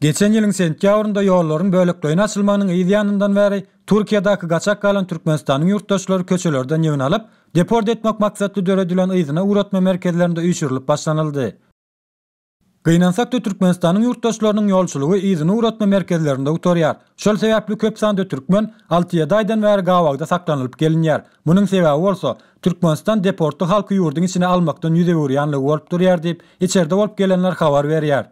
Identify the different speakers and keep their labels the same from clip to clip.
Speaker 1: Geçen ýylyň sentýabrynda ýollaryň bölekleýin açylmagynyň yz ýanyndan bäri Türkiýedäki gaçak galan Türkmenistanyň ýurtdaşlary köçelerden ýygyn alyp, deport etmek maksatly döredilen yzyna ugratma merkezlerinde üýşürilip başlanyldy. Gynansak-da Türkmenistanyň ýurtdaşlarynyň ýolçulygy yzyny ugratma merkezlerinde gutarýar. Şol sebäpli köp sanda türkmen alty-ýedi aýdan bäri gabawda saklanylyp gelinýär. Munuň sebäbi bolsa, Türkmenistan deportly halky ýurduň içine almakdan ýüz öwürýänligi bolup durýar diýip, içerde bolup gelenler habar berýär.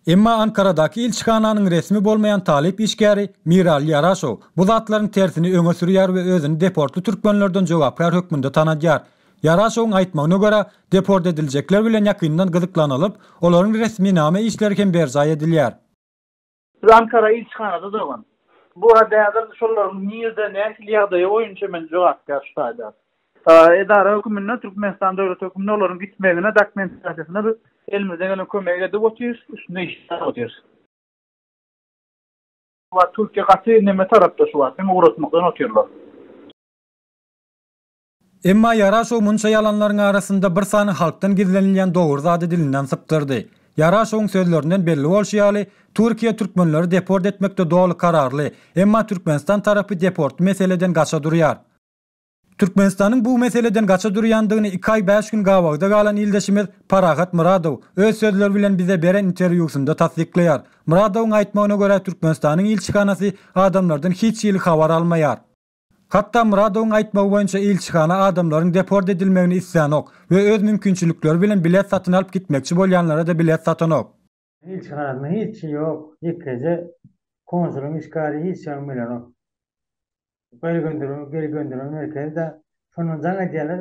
Speaker 1: Emma Ankaradaky ilçihananyň resmi bolmaýan talyp işgäri Mirali Ýaraşow bu zatlaryň tersini öňe sürýär we özüni deportly türkmenlerden jogapkär hökmünde tanadýar. Ýaraşowyň aýtmagyna görä, deport ediljekler bilen ýakyndan gyzyklanylyp, olaryň resminama işleri hem berjaý edilýär. Biz
Speaker 2: Ankara ilçihanada durgun. Bu häzir şolaryň nirde, nähili ýagdaýy boýunça men jogapkär şu taýda. Edara höküminde, Türkmenistan döwleti höküminde olaryň gitmegine, dokumentasiýasyna biz elimizden gelen kömegi edip otyrys, üstünde işläp otyrys. Şu wagt Türkiýe gaty neme tarapda şu wagt, hem ugratmakdan otyrlar.
Speaker 1: Emma Ýaraşow munça ýalanlaryň arasynda bir sany halkdan gizlenilýän dogry zady dilinden sypdyrdy. Ýaraşowyň sözlerinden belli bolşy ýaly, Türkiýe türkmenleri deport etmekde doly kararly, emma Türkmenistan tarapy deportly meseleden gaça durýar. Türkmenistanyň bu meseleden gaça durýandygyny iki aý bäş gün gabawda galan ildeşimiz Parahat Myradow öz sözleri bilen bize beren interwýusynda tassyklaýar. Myradowyň aýtmagyna görä Türkmenistanyň ilçihanasy adamlardan hiç hili habar almaýar. Hatda Myradowyň aýtmagy boýunça ilçihana adamlaryň deport edilmegini islänok we öz mümkinçilikleri bilen bilet satyn alyp gitmekçi bolýanlara-da bilet satanok. Ilçihanasynda
Speaker 3: hiçi ýok, ýekeje konsulyň iş kary hiç zadyň bilenok. Geri gönderilen merkezi-de şondan jaň edýärler.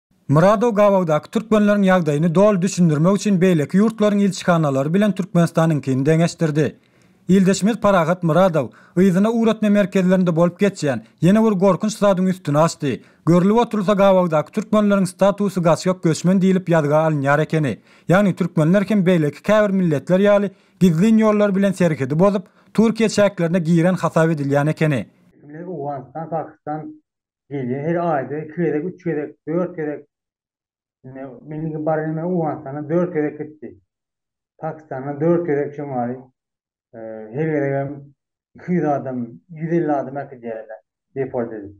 Speaker 3: Myradow
Speaker 1: gabawdaky türkmenleriň ýagdaýyny doly düşündirmek üçin beýleki ýurtlaryň ilçihanalary bilen Türkmenistanyňkyny deňeşdirdi. Ildeşimiz Parahat Myradow yzyna ugratma merkezlerinde bolup geçýän ýene bir gorkunç zadyň üstüni açdy, görlüp oturylsa gabawdaky türkmenleriň statusy gaçgak göçmen diýlip ýazga alynýar ekeni, ýagny türkmenler hem beýleki käbir milletler ýaly gizlin ýollar bilen serhedi bozup Türkiýe çäklerine giren hasap edilýän ekeni. Owganystan,
Speaker 3: Pakistan, Gelýär her aýda iki gezek, üç gezek, dört gezek. Indi meniňki baryny men Owganystana dört gezek gitdi. Pakistana dört gezek şemaly. Her gezegem iki ýüz adam, ýüz elli adam äkidýärler deport edip.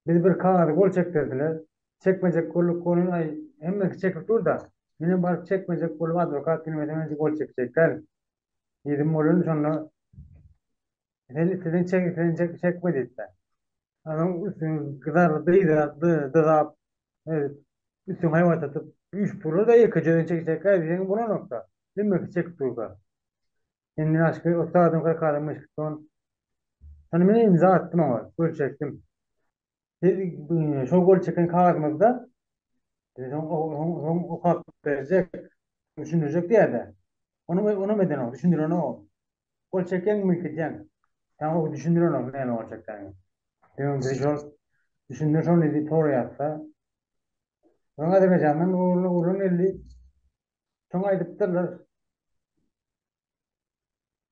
Speaker 3: Biz bir kagyzy gol çekdirdiler. Çekmejek bolduk goluny, aý, hemmesi çekip dur-da, menem baryp çekmejek bolup adwokat gelmese men gol çekjek dälin. Diýdim bolany, şonda Sen siziň çek sen çek çek wezipä. Adam üstün gidar dyza dyza üstün hayvat atıp üç pulu da iki cöden çek çek ay sen buna nokta. Sen bir çek durga. Sen ne aşkı o sağdan kay kalmış son. Sen beni imza attım ama gül çektim. Siz şol gol çeken kagyzymyzda soň okap berjek, düşündirjek diýer-de. Onuň onam edenok, düşündirenok. Gol çekeňmi, itleýäň? Ýa o düşündirenok näme gol çekeniňi. Ýöne biz şol düşündir şony diýip soraýarys-da. Soň Azerbaýjandan oglan geldi. Şoňa aýdypdyrlar.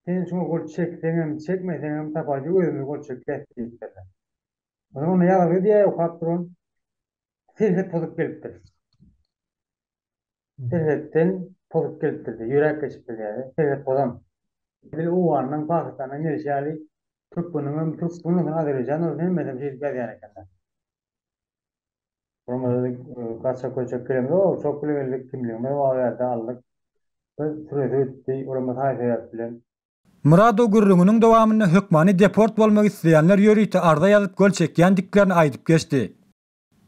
Speaker 3: Sen şuňa gol çekseňem, çekmeseňem tapajy özümiz gol çekýäs diýipdirler. O zaman ýazyl gidýär, okap duran serhet pozup gelipdir. Serhetden pozup gelipdir, ýöräp geçip bilýär, serhet pozan. Edil Owganynyň, Pakistanyň gelşi ýaly türkmeniňem, türk sungatynyň, azerbaýjanyň hemmesem şeýdip ýazýan ekenler. Onuň özi gaça köçek gelende, Ýok, çok bile geldik, kimligimiz bar bärde aldyk. Bir süresi gitdi, olamaz haýsy sebäp bilen. Muradow
Speaker 1: gürrüňiniň dowamynda hökmany deport bolmak isleýänler ýörite arza ýazyp gol çekýändiklerini aýdyp geçdi.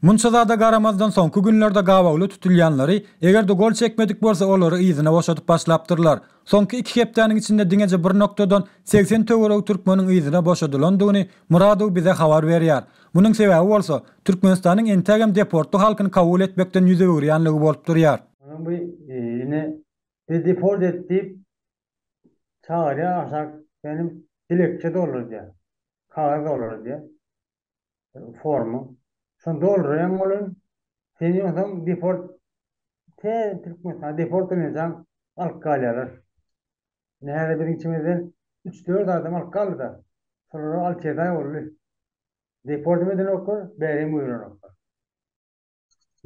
Speaker 1: Munça zada garamazdan soňky günlerde gabawly tutulýanlary, eger-de gol çekmedik bolsa olary yzyna boşadyp başlapdyrlar. Soňky iki hepdäniň içinde diňeje bir nokdadan segsen töweregi türkmeniň yzyna boşadylandygyny Muradow bize habar berýär. Munuň sebäbi bolsa, Türkmenistanyň entägem deportly halkyny kabul etmekden ýüz öwürýänligi bolup
Speaker 3: durýar.
Speaker 1: Munuň bu ýene Bizi deport
Speaker 3: et diýip çagyrýar, aşak benim dilekçe doldurýar, kagyz doldurýar. formu. Şony dolduraýaň bolun. Seni ýogsam deport te Türkmenistana deport edinjan alyp galýarlar. Ine häzir biziň içimizden üç-dört adam alyp galdy-da. Şolara alty-ýedi aý boldy. Deport hem edenoklar, bäri hem goýulanoklar.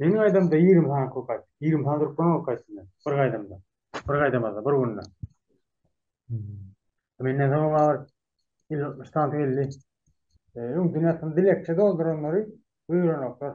Speaker 3: Meniň aýdamda ýigrimi sany kul gaýtdy. Ýigrimi sany durup bolan ol gaýtdy bir gaýdamda. Bir gaýdamazda, bir günde. Menden soň maňa bir elli altmyş sany geldi. Öň dünýäsini dilekçe dolduranlary buýranoklar.